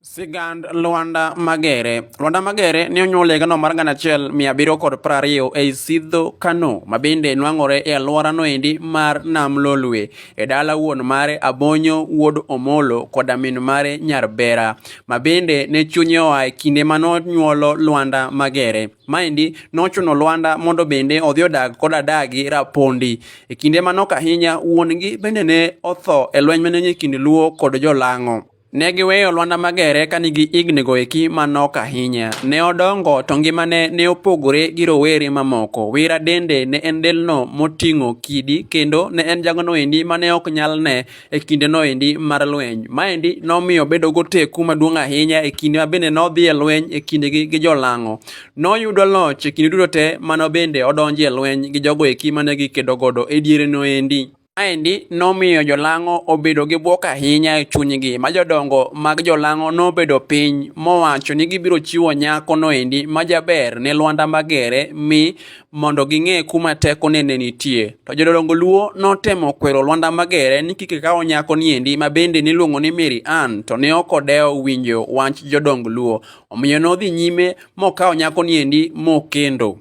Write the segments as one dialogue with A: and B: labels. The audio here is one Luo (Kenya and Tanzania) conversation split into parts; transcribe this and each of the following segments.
A: Sigand Lwanda Magere. Lwanda Magere ne onyuol e gano mar gana achiel mia abiriyo kod piero ariyo ei Sidho Kano ma bende nwang'ore e alworano endi mar Nam Lolwe e dala wuon mare Abonyo wuod Omolo koda min mare Nyarbera ma bende ne chunye oa e kinde ma nonyuolo Lwanda Magere. Maendi nochuno Lwanda mondo bende odhi odag kod adagi Rapondi. E kinde manok ahinya wuon-gi bende ne otho e lweny mane nie kind Luo kod Jolang'o. Ne giweyo Lwanda Magere ka nigi hignigo eki ma nok ahinya. Ne odongo to ngimane ne opogore gi rowere mamoko. Wira dende ne en delno moting'o kidi kendo ne en jagono endi ma ne ok nyal ne e kindeno endi mar lweny. Maendi nomiyo bedo goteku maduong' ahinya e kinde ma bende nodhi e lweny e kindegi gi jolang'o. Noyudo loch e kinde duto te mano bende odonjo e lweny gi jogo eki mane gikedo godo e diereno endi. Maendi nomiyo jolang'o obedo gi bwok ahinya e chunygi ma jodongo mag jolang'o nobedo piny mowacho ni gibiro chiwo nyako noendi ma jaber ne Lwanda Magere mi mondo ging'e kuma tekone ne nitie. To jodongo Luo notemo kwero Lwanda Magere ni kik kawo nyako niendi ma bende niluongo ni Mary Ann to ne ok odewo winjo wach jodong Luo. Omiyo nodhi nyime mokawo nyako niendi mokendo.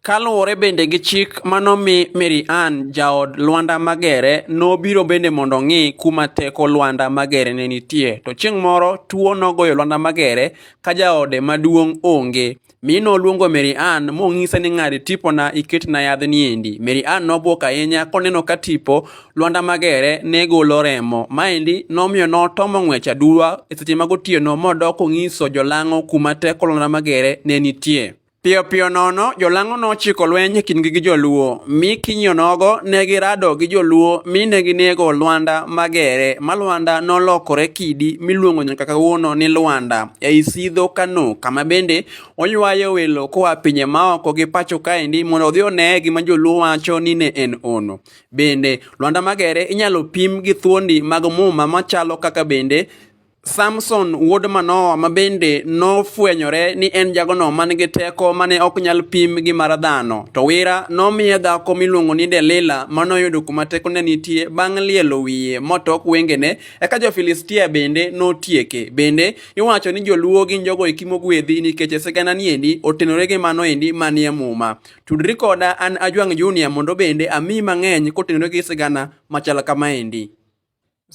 A: Kaluwore bende gi chik manomi Mary Ann jaod Lwanda Magere nobiro bende mondo ong'i kuma teko Lwanda Magere ne nitie to chieng' moro tuo nogoyo Lwanda Magere ka jaode maduong' onge mi noluongo Mary Ann monyise ni ng'ad tipona iketna yadhni endi. Mary Ann nobwok ahinya koneno ka tipo Lwanda Magere ne golo remo. Maendi nomiyo notomo ng'wech aduwa e seche mag otieno modok onyiso jolang'o kuma teko Lwanda Magere ne nitie. Piyo piyo nono jolang'o nochiko lweny e kindgi gi joluo mi kinyo nogo ne girado gi joluo mi ne ginego Lwanda Magere ma Lwanda nolokore kidi miluongo nyaka kawuono ni Lwanda ei Sidho Kano kama bende oywayo welo koa pinye maoko gi pacho kaendi mondo odhi one gima joluo wacho ni ne en ono. Bende Lwanda Magere inyalo pim gi thuondi mag muma machalo kaka bende Samson wuod Manoa ma bende nofwenyore ni en jagono man gi teko mane ok nyal pim gi mar dhano. To Wira nomiye dhako miluongo ni Delila manoyudo kuma tekone nitie bang' lielo wiye motok wengene, eka jo-Filistia bende notieke. Bende iwacho ni joluo gin jogo eki mogwedhi nikech sigana niendi otenore gi mano endi manie muma. Tudri koda an Ajwang' Junior mondo bende amiyi mang'eny kotenore gi sigana machal kamaendi.